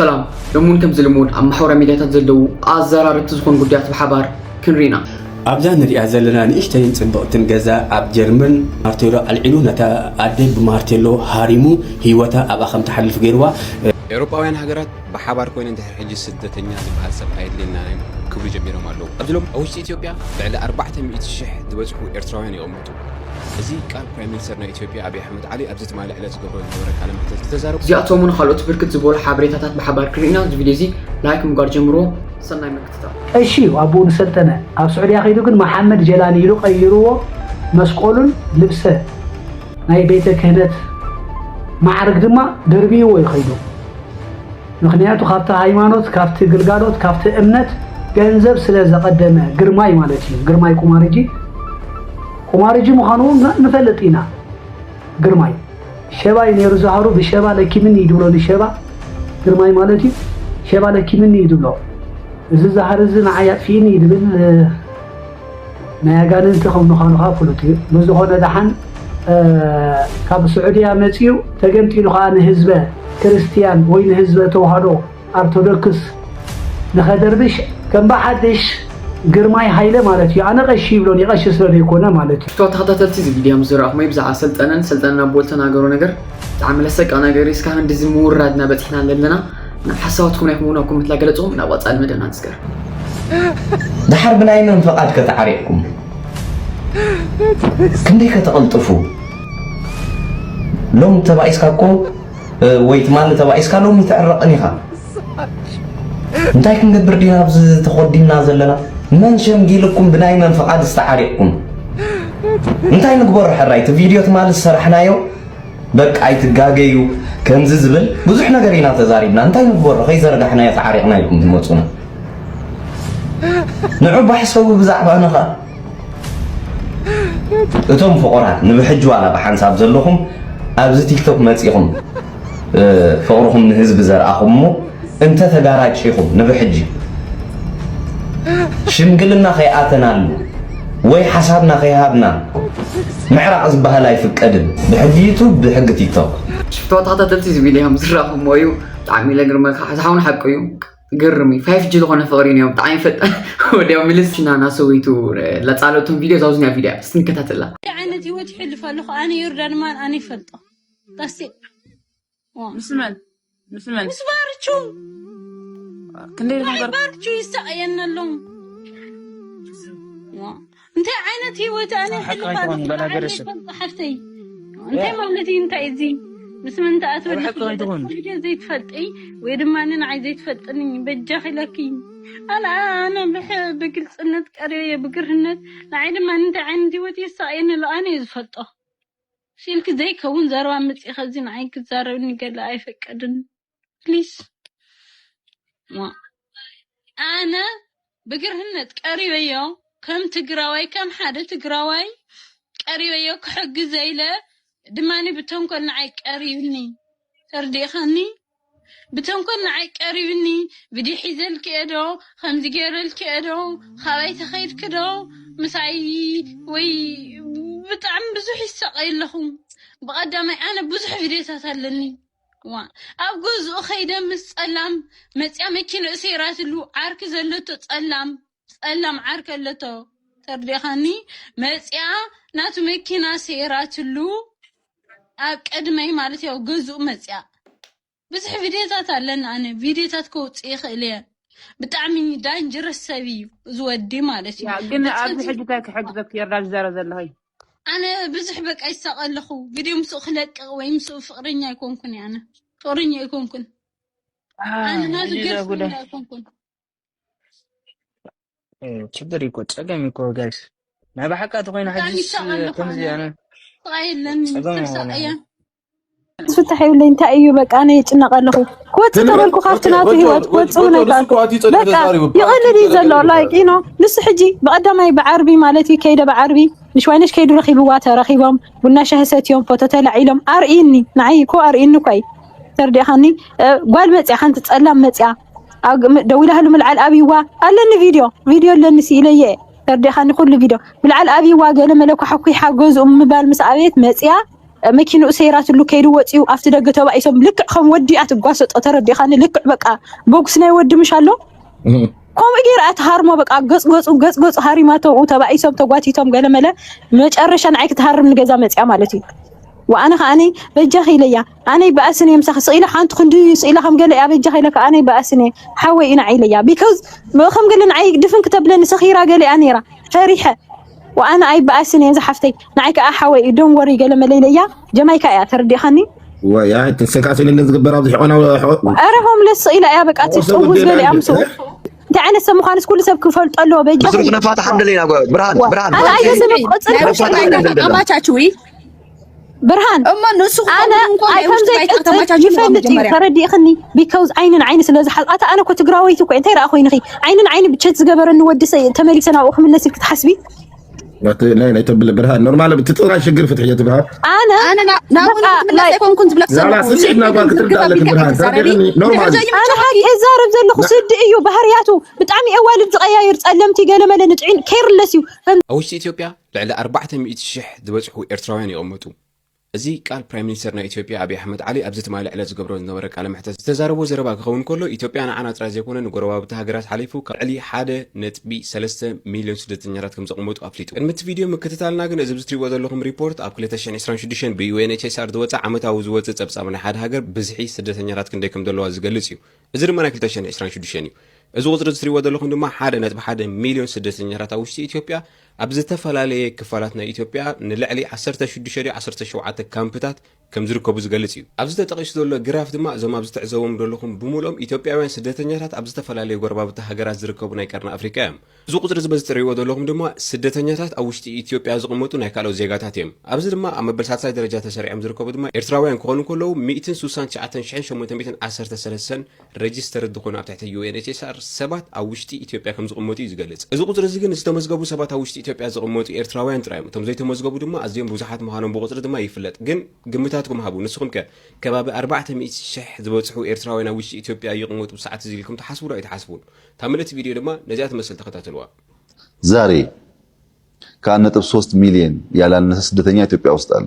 ሰላም ሎሚ ውን ከምዚ ልሙድ ኣብ ማሕበራዊ ሚድያታት ዘለዉ ኣዛራረብቲ ዝኾኑ ጉዳያት ብሓባር ክንሪኢ ኢና። ኣብዛ ንሪኣ ዘለና ንእሽተይን ጽብቕትን ገዛ ኣብ ጀርመን ማርቴሎ ኣልዒሉ ነታ ኣደ ብማርቴሎ ሃሪሙ ህይወታ ኣብኣ ከም ትሓልፍ ገይርዋ። ኤውሮጳውያን ሃገራት ብሓባር ኮይነን ድሕሪ ሕጂ ስደተኛ ዝበሃል ሰብ ኣየድልየናን እዩ ክብሉ ጀሚሮም ኣለዉ። ኣብዚ ሎሚ ኣብ ውሽጢ ኢትዮጵያ ልዕሊ ኣርባዕተ ሚእቲ ሽሕ ዝበጽሑ ኤርትራውያን ይቕመጡ። እዚ ቃል ፕራይም ሚኒስተር ናይ ኢትዮጵያ ኣብይ ኣሕመድ ዓሊ ኣብዚ ትማሊ ዕለት ዝገብሮ ዝነበረ ቃለ መሕተት ዝተዛረቦ እዚኣቶምን ኻልኦት ብርክት ዝበሉ ሓበሬታታት ብሓባር ክንርኢ ኢና። እዚ ቪድዮ እዚ ላይክ ምግባር ጀምርዎ። ሰናይ ምክትታል። ቀሺ እዩ ኣቡኡ ንሰልጠነ ኣብ ሱዕድያ ከይዱ ግን መሓመድ ጀላኒ ኢሉ ቀይርዎ መስቆሉን ልብሰ ናይ ቤተ ክህነት ማዓርግ ድማ ደርብይዎ እዩ ከይዱ። ምኽንያቱ ካብቲ ሃይማኖት ካብቲ ግልጋሎት ካብቲ እምነት ገንዘብ ስለ ዘቐደመ ግርማይ ማለት እዩ ግርማይ ቁማርጂ ቁማርጂ ምዃኑ ንፈልጥ ኢና ግርማይ ሸባ እዩ ነይሩ ዝሃሩ ብሸባ ለኪምኒ እዩ ድብሎ ንሸባ ግርማይ ማለት እዩ ሸባ ለኪምኒ እዩ ድብሎ እዚ ዝሃር እዚ ንዓይ ኣጥፊእኒ እዩ ድብል ናይ ኣጋንንቲ ከም ምዃኑ ከኣ ፍሉጥ እዩ። ብዝኾነ ደሓን ካብ ስዑድያ መጺኡ ተገንጢሉ ከኣ ንህዝበ ክርስትያን ወይ ንህዝበ ተዋህዶ ኣርቶዶክስ ንኸደርብሽ ከም ብሓድሽ ግርማይ ሃይለ ማለት እዩ። ኣነ ቀሺ ይብሎን ይቐሺ ስለ ዘይኮነ ማለት እዩ። ክብርታት ተኸታተልቲ እዚ ቪድዮ ምስ ዝረኣኹምይ ብዛዕባ ሰልጠነን ሰልጠነን ኣቦ ልተናገሮ ነገር ብጣዕሚ ለሰቅቕ ነገር እዩ እስካብ ህንድዚ ምውራድና በጺሕና ለለና ሓሳባት ኮነ ይኹን ኣብ ኮመንት ላይ ገለጽኹም ናብ ቀጻሊ መደብና ንስገር። ድሓር ብናይ መን ፍቓድ ከተዓሪቕኩም ክንደይ ከተቕልጥፉ ሎም ተባኢስካ እኮ ወይ ትማሊ ተባኢስካ ሎሚ ትዕረቕን ኢኻ እንታይ ክንገብር ዲና ኣብዚ ተኾዲምና ዘለና መን ሸምጊልኩም ብናይ መን ፍቓድ ዝተዓሪቕኩም እንታይ ንግበሮ ሕራይ እቲ ቪድዮ ትማሊ ዝሰራሕናዮ በቃ ኣይትጋገዩ ከምዚ ዝብል ብዙሕ ነገር ኢና ተዛሪብና እንታይ ንግበሮ ከይዘርጋሕናዮ ተዓሪቕና ኢልኩም ትመጹና ንዑ ባሕሰቡ ብዛዕባና ኸኣ እቶም ፍቑራት ንብሕጂ ዋላ ብሓንሳብ ዘለኹም ኣብዚ ቲክቶክ መጺኹም ፍቕርኹም ንህዝቢ ዘርኣኹም እሞ እንተ ተጋራጭኹም ንብሕጂ ሽምግልና ከይኣተናሉ ወይ ሓሳብና ከይሃብና ምዕራቕ ዝበሃል ኣይፍቀድን ብሕጊ ዩቱብ ብሕጊ ቲክቶክ። ሽፍትዋ ተኸታተልቲ እዚ ቪድዮ እዮም ዝራኹሞ እዩ ብጣዕሚ ለግርመካ እዚ ሓውን ሓቁ እዩ ግርም እዩ ፋይፍ ጂ ዝኾነ ፍቕሪ እዮም ብጣዕሚ ፈጣን ወዲያው ምልስ ናና ሰዊቱ ለፃለቱን ቪድዮ ዛውዝኛ ቪድዮ እስቲ ንከታተላ ዓይነት ህይወት ይሕልፍ ኣለኹ ኣነ ዮርዳን ማን ኣነ ይፈልጦ ዳስቴ ምስ መን ምስ መን ምስ ባርቹ ክንደይ ነገር ባርቹ ይሳቀየና ኣሎ እንታይ ዓይነት ህይወት ኣነ ሕልፋሓፍተይ እንታይ ማለት እዩ እንታይ እዚ ምስ ምን ተኣትወልደ ዘይትፈልጢ ወይ ድማ ንንዓይ ዘይትፈልጥኒ በጃኺ ለኪ ኣነ ኣነ ብግልፅነት ቀሪበየ ብግርህነት ንዓይ ድማ እንታይ ዓይነት ህይወት የሳቀየኒ ኣሎ ኣነ እዩ ዝፈልጦ ሲልኪ ዘይከውን ዘረባ ምጺ ከዚ ንዓይ ክትዛረብኒ ገለ ኣይፈቀድን ፕሊስ እሞ ኣነ ብግርህነት ቀሪበዮ ከም ትግራዋይ ከም ሓደ ትግራዋይ ቀሪበዮ ክሕግዘ ኢለ ድማኒ ብተንኮል ንዓይ ቀሪብኒ ተርዲእኻኒ ብተንኮል ንዓይ ቀሪብኒ ቪድዮ ሒዘልኪ እየ ዶ ከምዚ ገይረልኪ እየ ዶ ካባይ ተኸይድኪ ዶ ምሳይ ወይ ብጣዕሚ ብዙሕ ይሳቀዩ ኣለኹ ብቀዳማይ ኣነ ብዙሕ ቪድዮታት ኣለኒ ዋ ኣብ ገዝኡ ከይደ ምስ ጸላም መጽያ መኪንኡ ሰይራትሉ ዓርኪ ዘለቶ ጸላም ጸላም ዓርከይ ኣለቶ ተርዲእኻኒ መጺኣ ናቱ መኪና ሰይራትሉ ኣብ ቅድመይ ማለት ያው ገዝኡ መጺኣ ብዙሕ ቪድዮታት ኣለና ኣነ ቪድዮታት ከውጽእ ይኽእል እየ ብጣዕሚ ዳንጅረስ ሰብ እዩ እዚ ወዲ ማለት እዩ ያ ግን ኣብዚ ሕጂ እንታይ ክሕግዘኪ የርዳል ዝዛረብ ዘለኹ ኣነ ብዙሕ በቃ ይሳቐ ኣለኹ ቪድዮ ምስኡ ክለቅቕ ወይ ምስኡ ፍቕረኛ ኣይኮንኩን ኣነ ፍቕረኛ ኣይኮንኩን ኣነ ናቱ ገርፍሬንድ ኣይኮንኩን ችግር እኮ ጸገም እኮ ጋይስ ናይ ባሓቃ ተኮይና ሕጂስ ከምዚ ኣነ ፍታሕ ይብለኝ እንታይ እዩ በቃ እኔ ይጭነቀ ኣለኹ ክወፅእ ተበልኩ ካብቲ ናቱ ሂወት ክወፅእ እውን ኣይከኣልኩ በቃ ይቐልል እዩ ዘሎ ላይክ ኢኖ ንሱ ሕጂ ብቐዳማይ ብዓርቢ ማለት እዩ ከይደ ብዓርቢ ንሽዋይነሽ ከይዱ ረኺብዋ ተረኺቦም ቡና ሻሂ ሰትዮም ፎቶ ተላዒሎም ኣርእይኒ ንዓይ እኮ ኣርእይኒ እኳ እዩ ተርዲእኻኒ ጓል መፅያ ሓንቲ ፀላም መፅያ ደዊላትሉ ምልዓል ኣብይዋ ኣለኒ ቪድዮ ቪድዮ ኣለኒ ስኢለዮ እየ ተርዲእኻኒ ኩሉ ቪድዮ ምልዓል ኣብይዋ ገለ መለ ኳሕኲሓ ገዝኡ ምባል ምስ ኣበየት መፅያ መኪንኡ ሰይራትሉ ከይዱ ወፅዩ ኣብቲ ደገ ተባኢሶም ልክዕ ከም ወዲ እያ ትጓሰጦ ተረዲእኻኒ ልክዕ በቃ በጉስ ናይ ወዲ ምሽ ኣሎ ከምኡ ገይራ እያ ትሃርሞ በቃ ገፅገፁ ገፅገፁ ሃሪማተው ተባኢሶም ተጓቲቶም ገለ መለ መጨረሻ ንዓይ ክትሃርም ንገዛ መፅያ ማለት እዩ ወኣነ ከዓኒ በጃኺ ኢለያ ኣነይ ባእስን እየ ምሳኺ ስቅ ኢለ ሓንቲ ክንዲ ስቅ ኢለ ከም ገለ እያ በጃኺ ኢለካ ኣነይ ባእስን እየ ሓወይ እዩ ንዓይ ኢለያ ቢኮዝ ከም ገለ ንዓይ ድፍን ክተብለኒ ሰኺራ ገለ እያ ነይራ ፈሪሐ ወኣነ ኣይ ባእስን እየ ዝሓፍተይ ንዓይ ከዓ ሓወይ እዩ ዶን ወሪ ገለ መለ ኢለያ ጀማይካ እያ ተረዲእኻኒ ወይ ኣይ ተሰካሲ ለለ ዝግበር ኣብዚ ሕቆና ኣረ ሆምለስ ስቅ ኢላ እያ በቃ ትጥውዝ ገለ እያ ምስ እንታይ ዓይነት ሰብ ምዃንስ ኩሉ ሰብ ክፈልጦ ኣለዎ በጃኺ ብርሃን ብርሃን ኣነ ኣየ ሰብ ቆፅል ኣማቻችዊ ብርሃን እሞ ንሱ ኣነ ይፈልጥ እዩ ተረዲእኽኒ ቢካውዝ ዓይኒ ንዓይኒ ስለ ዝሓዝኣታ ኣነ እኮ ትግራወይቲ እኮ እንታይ ረኣ ኮይንኺ ዓይኒ ንዓይኒ ብቸት ዝገበረኒ ወዲ ሰ ተመሊሰ ናብኡ ክምለስ ኢልክ ትሓስቢ ናይ ናይ ተብለ ብርሃን ኖርማል ብትጥራ ሽግር ፍትሕ እየ ትብሃል ኣነ ኣነ ናብኡ ክምለስ ኣይኮንኩን ዝብለክ ዛላ ስምዒት ናባር ክትርዳ ኣለክ ብርሃን ተረዲእኽኒ ኖርማል ኣነ ሓቂ እዛረብ ዘለኹ ስዲ እዩ ባህርያቱ ብጣዕሚ እዋልድ ዝቀያየር ጸለምቲ ገለመለ ንጥዒን ኬርለስ እዩ ኣብ ውሽጢ ኢትዮጵያ ልዕሊ ኣርባዕተ ሚእቲ ሽሕ ዝበጽሑ ኤርትራውያን ይቕመጡ። እዚ ቃል ፕራይም ሚኒስተር ናይ ኢትዮጵያ ኣብይ ኣሕመድ ዓሊ ኣብዚ ትማሊ ዕለት ዝገብሮ ዝነበረ ቃለ መሕተት ዝተዛረቦ ዘረባ ክኸውን ከሎ ኢትዮጵያ ንዓና ጥራይ ዘይኮነ ንጎረባብቲ ሃገራት ሓሊፉ ካብ ልዕሊ ሓደ ነጥቢ ሰለስተ ሚልዮን ስደተኛታት ከም ዘቕመጡ ኣፍሊጡ። ቅድሚ እቲ ቪድዮ ምክትታልና ግን እዚ ብዝትሪእዎ ዘለኹም ሪፖርት ኣብ ክልተ ሽሕን ዕስራን ሽዱሽተን ብዩኤንኤችሲኣር ዝወጸ ዓመታዊ ዝወጽእ ጸብጻብ ናይ ሓደ ሃገር ብዝሒ ስደተኛታት ክንደይ ከም ዘለዋ ዝገልጽ እዩ። እዚ ድማ ናይ ክልተ ሽሕን ዕስራን ሽዱሽተን እዩ። እዚ ቁጽሪ እዚ ትሪእዎ ዘለኹም ድማ ሓደ ነጥቢ ሓደ ሚልዮን ስደተኛታት ኣብ ውሽጢ ኢትዮጵያ ኣብ ዝተፈላለየ ክፋላት ናይ ኢትዮጵያ ንልዕሊ ዓሰርተ ሽዱሽተ ድዩ ዓሰርተ ሸውዓተ ካምፕታት ከም ዝርከቡ ዝገልጽ እዩ። ኣብዚ ተጠቒሱ ዘሎ ግራፍ ድማ እዞም ኣብዚ ትዕዘቦም ዘለኹም ብምሉኦም ኢትዮጵያውያን ስደተኛታት ኣብ ዝተፈላለዩ ጎረባብቲ ሃገራት ዝርከቡ ናይ ቀርኒ ኣፍሪቃ እዮም። እዚ ቁጽሪ እዚ በዚ ትርእይዎ ዘለኹም ድማ ስደተኛታት ኣብ ውሽጢ ኢትዮጵያ ዝቕመጡ ናይ ካልኦት ዜጋታት እዮም። ኣብዚ ድማ ኣብ መበል ሳልሳይ ደረጃ ተሰሪዖም ዝርከቡ ድማ ኤርትራውያን ክኾኑ እንከለዉ ሚእትን ስሳን ትሽዓተን ሽሕን ሸሞንተ ሚእትን ዓሰርተ ሰለስተን ረጅስተርድ ዝኾኑ ኣብ ትሕቲ UNHSR ሰባት ኣብ ውሽጢ ኢትዮጵያ ከም ዝቕመጡ እዩ ዝገልጽ። እዚ ቁጽሪ እዚ ግን ዝተመዝገቡ ሰባት ኣብ ውሽጢ ኢትዮጵያ ዝቕመጡ ኤርትራውያን ጥራይ እዮም። እቶም ዘይተመዝገቡ ድማ ኣዝዮም ብዙሓት ምዃኖም ብቑጽሪ ድማ ይፍለጥ። ግን ግምታትኩም ሃቡ። ንስኹም ከ ከባቢ ኣርባዕተ ሚእቲ ሽሕ ዝበጽሑ ኤርትራውያን ኣብ ውሽጢ ኢትዮጵያ ይቕመጡ ብሰዓት እዚ ኢልኩም ትሓስቡ ዶ ኣይትሓስቡን? እታ ምልእቲ ቪድዮ ድማ ነዚኣ ትመስል ተኸታተሉዋ። ዛሬ ከአንድ ነጥብ ሶስት ሚሊየን ያላነሰ ስደተኛ ኢትዮጵያ ውስጥ አለ።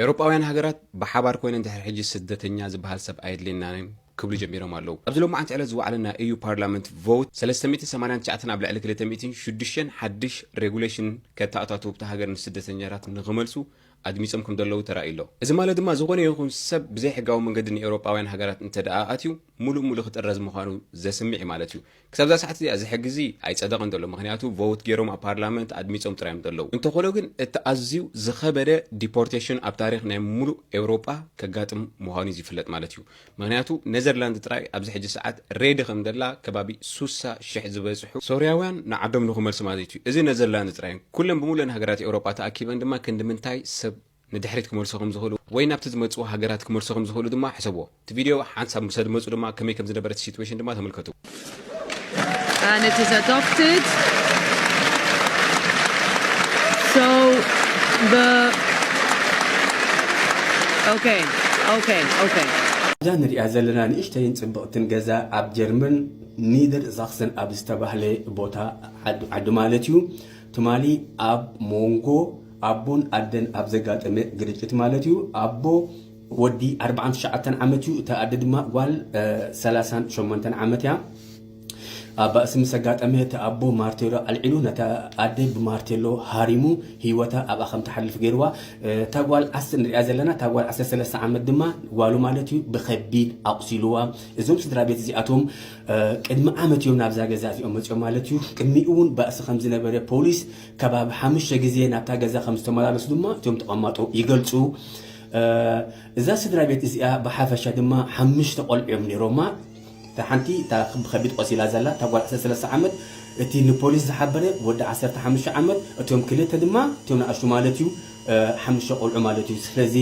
ኤውሮጳውያን ሃገራት ብሓባር ኮይነን ድሕሪ ሕጂ ስደተኛ ዝበሃል ሰብ ኣየድልየናን'ዩ ክብሉ ጀሚሮም ኣለዉ። ኣብዚ ሎማዓንቲ ዕለት ዝወዓለ ናይ ኢዩ ፓርላመንት ቮውት ሰለስተ ሚእትን ሰማንያን ትሽዓተን ኣብ ልዕሊ ክልተ ሚእትን ሽዱሽተን ሓድሽ ሬጉሌሽን ከተኣታትው'ታ ሃገር ንስደተኛታት ንኽመልሱ ኣድሚጾም ከምዘለዉ ተራእዩ'ሎ። እዚ ማለት ድማ ዝኾነ ይኹን ሰብ ብዘይሕጋዊ መንገዲ ንኤውሮጳውያን ሃገራት እንተድኣ ኣትዩ፣ ሙሉእ ሙሉእ ክጥረዝ ምዃኑ ዘስምዕ እዩ ማለት እዩ። ክሳብ እዛ ሰዓት እዚኣ እዚ ሕጊ እዚ ኣይፀደቐን ዘሎ ምኽንያቱ ቮውት ገይሮም ኣብ ፓርላመንት ኣድሚፆም ጥራይ እዮም ዘለዉ። እንተኾነ ግን እቲ ኣዝዩ ዝኸበደ ዲፖርቴሽን ኣብ ታሪኽ ናይ ሙሉእ ኤውሮጳ ከጋጥም ምዃኑ እዩ ዝፍለጥ ማለት እዩ። ምኽንያቱ ነዘርላንድ ጥራይ ኣብዚ ሕጂ ሰዓት ሬዲ ከም ዘላ ከባቢ ሱሳ ሽሕ ዝበፅሑ ሶርያውያን ንዓዶም ንኽመልሱ ማለት እዩ። እዚ ነዘርላንድ ጥራይ ኩለን ብሙሉኤን ሃገራት ኤውሮጳ ተኣኪበን ድማ ክንድምንታይ ሰብ ንድሕሪት ክመልሱ ከም ዝኽእሉ ወይ ናብቲ ዝመጽዎ ሃገራት ክመልሱ ከም ዝኽእሉ ድማ ሕሰብዎ። እቲ ቪድዮ ሓንሳብ ምስ ኣድመጹ ድማ ከመይ ከም ዝነበረ እቲ ሲትዌሽን ድማ ተመልከቱ። and it is adopted. So the okay, okay, okay. እዛ ንሪኣ ዘለና ንእሽተይን ጽብቕትን ገዛ ኣብ ጀርመን ኒደር ዛክሰን ኣብ ዝተባህለ ቦታ ዓዱ ማለት እዩ ትማሊ ኣብ ሞንጎ ኣቦን ኣደን ኣብ ዘጋጠመ ግርጭት ማለት እዩ። ኣቦ ወዲ ኣርብዓን ትሽዓተን ዓመት እዩ። እታ ኣደ ድማ ጓል ሰላሳን ሸሞንተን ዓመት እያ። ኣብ ባእሲ ምስ ኣጋጠመ እቲ ኣቦ ማርቴሎ ኣልዒሉ ነታ ኣደ ብማርቴሎ ሃሪሙ ህይወታ ኣብኣ ከም ትሓልፍ ገይርዋ። እታ ጓል ዓስ ንሪኣ ዘለና እታ ጓል ዓሰርተ ሰለስተ ዓመት ድማ ጓሉ ማለት እዩ ብከቢድ ኣቑሲልዋ። እዞም ስድራ ቤት እዚኣቶም ቅድሚ ዓመት እዮም ናብዛ ገዛ እዚኦም መፅኦም ማለት እዩ። ቅድሚኡ እውን ባእሲ ከም ዝነበረ ፖሊስ ከባቢ ሓሙሽተ ግዜ ናብታ ገዛ ከም ዝተመላለሱ ድማ እቶም ተቐማጦ ይገልጹ። እዛ ስድራ ቤት እዚኣ ብሓፈሻ ድማ ሓሙሽተ ቆልዑ እዮም ነይሮማ። እታ ሓንቲ እታ ብከቢድ ቆሲላ ዘላ እታ ጓል 13 ዓመት እቲ ንፖሊስ ዝሓበረ ወዲ 15 ዓመት እቶም ክልተ ድማ እቶም ንኣሽቱ ማለት እዩ ሓሙሽተ ቆልዑ ማለት እዩ ስለዚ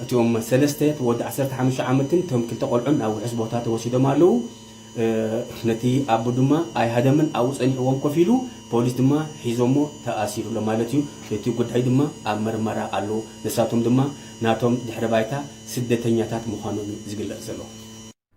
እቶም ሰለስተ ወዲ 15 ዓመትን እቶም ክልተ ቆልዑን ናብ ውሑስ ቦታ ተወሲዶም ኣለዉ ነቲ ኣቦ ድማ ኣይሃደመን ኣብኡ ጸኒሕዎም ኮፍ ኢሉ ፖሊስ ድማ ሒዞሞ ተኣሲሩ ኣሎ ማለት እዩ እቲ ጉዳይ ድማ ኣብ ምርመራ ኣሎ ንሳቶም ድማ ናቶም ድሕሪ ባይታ ስደተኛታት ምዃኖም እዩ ዝግለጽ ዘሎ።